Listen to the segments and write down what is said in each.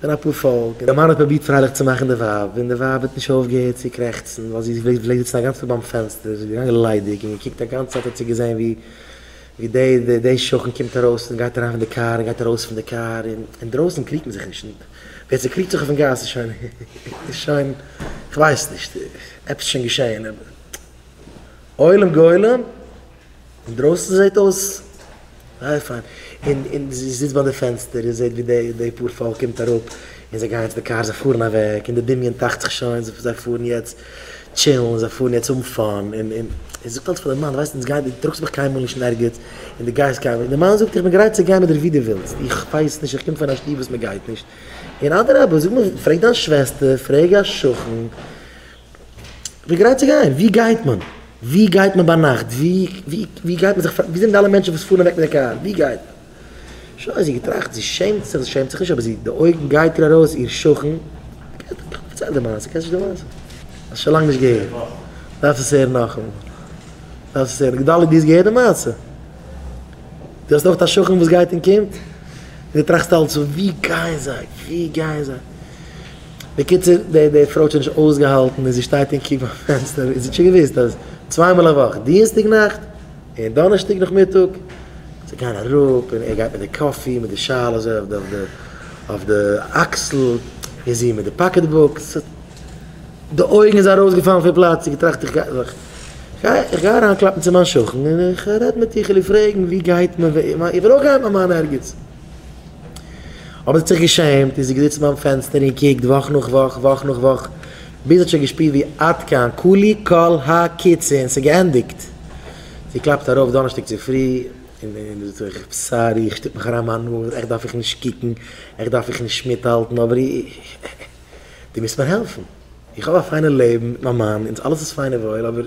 ס'געווען א פאר פאלק, און דער מאן האט פרובירט פרייליך צו מאכן די ווייב, און די ווייב האט נישט אויפגעהערט צו קרעכצן, ווייל זי איז געווען זיצן א גאנץ טאג ביים פענסטער, זי איז געגאנגען ליידיג און געקוקט א גאנץ צייט האט זי געזען ווי דער שכן קומט ארויס און גייט אריין פון די קאר און גייט ארויס פון די קאר, און אינדרויסן קריגט מען זיך נישט, און ווער ס'קריגט זיך אויפן גאס איז שוין איז שוין כ'ווייס נישט, עפעס איז שוין געשען, עולם גולם. אינדרויסן זעט אויס זייער פיין, און און זי זיצט ביי די פענסטער און זעט ווי די די פאר פאלק קומט אראפ, און זיי גייען צו די קארס, זיי פארן אוועק, און די דמיון טראכט זיך שוין, זיי פארן יעצט טשילן, זיי פארן יעצט האבן פאן, און און זי זאגט אלץ פאר די מאן, ווייסט אונז גייט, דו טראגסט מיך קיינמאל נישט אין ערגעץ, און דו גייסט קיינמאל, און די מאן זאגט איך בין גרייט צו גיין מיט דיר ווי דו ווילסט, איך ווייס נישט, איך קום פון א שטוב וואס מען גייט נישט, און אדרבה זאג מיר, פרעג דיין שוועסטער, פרעג א שכן, ווי גרייט צו גיין? ווי גייט מען? ווי גייט מען ביינאכט? ווי ווי גייט מען זיך פאר? ווי זענען די אלע מענטשן וואס פארן אוועק מיט די קאר? ווי גייט מען? שוין זי געטראכט, זי שעמט זיך, זי שעמט זיך נישט אבער זי די אויגן גייט איר ארויס איר שכן, פארצייל די מעשה, קענסט נישט די מעשה? האסט שוין לאנג נישט געהערט, דארפסט עס הערן נאכאמאל, דארפסט עס הערן, גדלי' די האסט געהערט די מעשה? די האסט אויך א שכן וואס גייט און קומט? און די טראכסט אלץ ווי גייען זיי? ווי גייען זיי? בקיצור, די די פרוי האט שוין נישט אויסגעהאלטן און זי שטייט אין קיווע ביים פענסטער און זי האט שוין געוואוסט אז צוויי מאל א וואך, דינסטאג נאכט און דאנערשטאג נאכמיטאג, זיי גייען אראפ און ער גייט מיט די קאפי מיט די שאל אזוי אויף די אויף די אקסל און זי מיט די פאקעט בוק, ס ה די אויגן איז ארויסגעפאלן פון פלאץ, זי האט געטראכט איך גיי איך גיי אריינקלאפן צו מיין שכן און איך רעד מיט איר, איך וויל איר פרעגן ווי גייט מען, איך וויל אויך גיין מיט מיין ערגעץ. אבער זי האט זיך געשעמט און זי איז געזיצן ביים פענסטער און קוקט וואך נאך וואך, וואך נאך וואך, ביז זי האט שוין געשפירט ווי עד כאן, כולי כל הקיצין, ס'איז געענדיגט. זי קלאפט ארויף דאנערשטאג צופרי און זאגט זיך, סארי, איך שטופ מיך אריין מיין נאז, עכט דארף איך נישט קוקן, עכט דארף איך נישט מיטהאלטן, אבער איך, דו מוזט מיר העלפן. איך האב א פיינע לעבן מיט מיין מאן, אונז אלעס איז פיין און וואויל, אבער.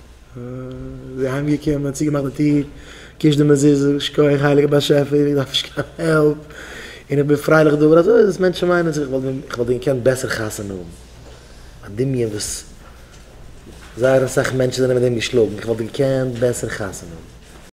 זי איז אהיימגעקומען, צוגעמאכט די טיר, געקושט די מזוזה, שכוח הייליגער באשעפער, איך דארף נישט קיין העלפ, און איך בין פרייליך דא, אבער אזוי איז עס, מענטשן מיינען זיך, איך וואלט ווען געקענט בעסער חתונה האבן, א דמיון וואס זייער אסאך מענטשן זענען מיט דעם געשלאגן, איך וואלט געקענט בעסער חתונה האבן.